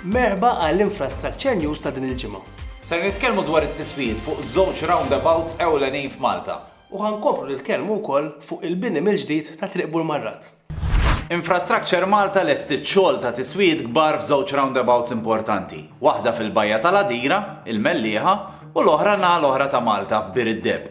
Merħba għal Infrastructure News ta' din il-ġimgħa. Ser nitkellmu dwar it-tiswijiet fuq żewġ roundabouts ewlenin f'Malta. U ħankomplu nitkellmu wkoll fuq il-bini mill-ġdid ta' Triq Burmarrat. Infrastructure Malta lestiet xogħol ta' tiswijiet kbar f'żewġ roundabouts importanti, waħda fil-Bajja tal-Għadira, il-Mellieħa, u l-oħra n-naħa l-oħra ta' Malta f'Bir id-Deb.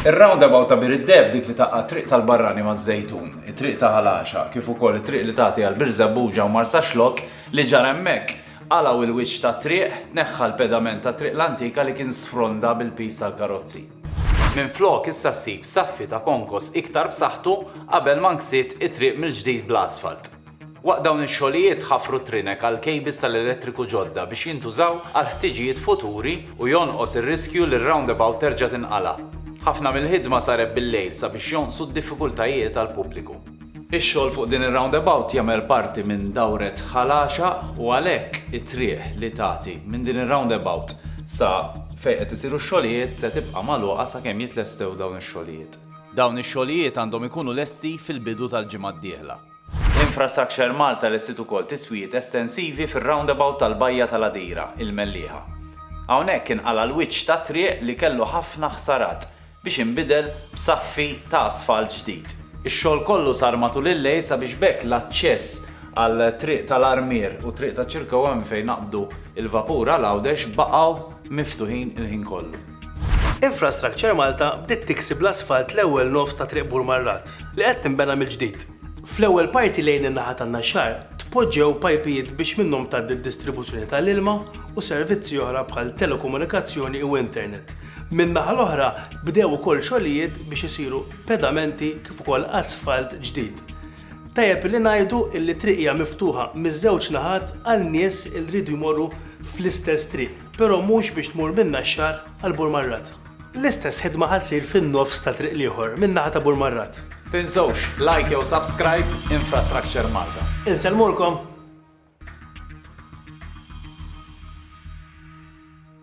Ir-roundabout ta' Bir id-Deheb dik li taqqa' t-Triq tal-Barrani maż-Żejtun, it-Triq ta' Ħal Għaxaq kif ukoll it-triq li tagħti għal Birżebbuġa u Marsaxlokk li ġara hemmhekk, qalgħu il-wiċċ tat-triq, tneħħa l-pedament tat-triq l-antika li kien sfronda bil-piż tal-karozzi. Minflok issa ssib saffi ta' konkos iktar b'saħħtu qabel ma nksiet it-triq mill-ġdid bl-asfalt. Waqt dawn ix-xogħlijiet ħafru t-trinek għal kejbils tal-elettriku ġodda biex jintużaw għal ħtiġijiet futuri u jonqos ir-riskju li r-roundabout terġa' tinqala'. Ħafna mill-ħidma saret bil-lejl sabiex jonqsu d-diffikultajiet għall-pubbliku. Ix-xogħol fuq din ir-roundabout jagħmel parti minn dawret Ħal Għaxaq u għalhekk it-triq li tagħti minn din ir-roundabout sa fejn qed isiru x-xogħlijiet se tibqa' magħluqa sakemm jitlestew dawn ix-xogħlijiet. Dawn ix-xogħlijiet għandhom ikunu lesti fil-bidu tal-ġimgħa d-dieħla. Infrastructure Malta lestiet ukoll tiswijiet estensivi fir-roundabout tal-Bajja tal-Għadira, il-Mellieħa. Hawnhekk inqala' l-wiċċ tat-triq li kellu ħafna ħsarat biex inbidel b'saffi ta' asfalt ġdid. Ix-xogħol kollu sar matul il-lejl sabiex b'hekk l-aċċess għal Triq tal-Armier u Triq taċ-Ċirkewwa minn fejn naqbdu l-vapur għal Għawdex baqgħu miftuħin il-ħin kollu. Infrastructure Malta bdiet tiksi bl-asfalt l-ewwel nofs ta' Triq Bur Marrat, li qed tinbena mill-ġdid. Fl-ewwel parti lejn in-naħa tan-Naxxar tpoġġew pajpijiet biex minnhom tgħaddi d-distribuzzjoni tal-ilma u servizzi oħra bħal telekomunikazzjoni u internet. Min-naħa l-oħra bdew ukoll xogħlijiet biex isiru pedamenti kif ukoll asfalt ġdid. Tajjeb li ngħidu li t-triq hija miftuħa miż-żewġ naħat għal nies li riedu jmorru fl-istess triq. Però mhux biex tmur minn Naxxar għal Burmarrat. L-istess ħidma ħa ssir fin-nofs ta' triq l-ieħor min-naħa ta' Burmarrat. Tinsewx like jew subscribe Infrastructure Malta. Insellmulkom!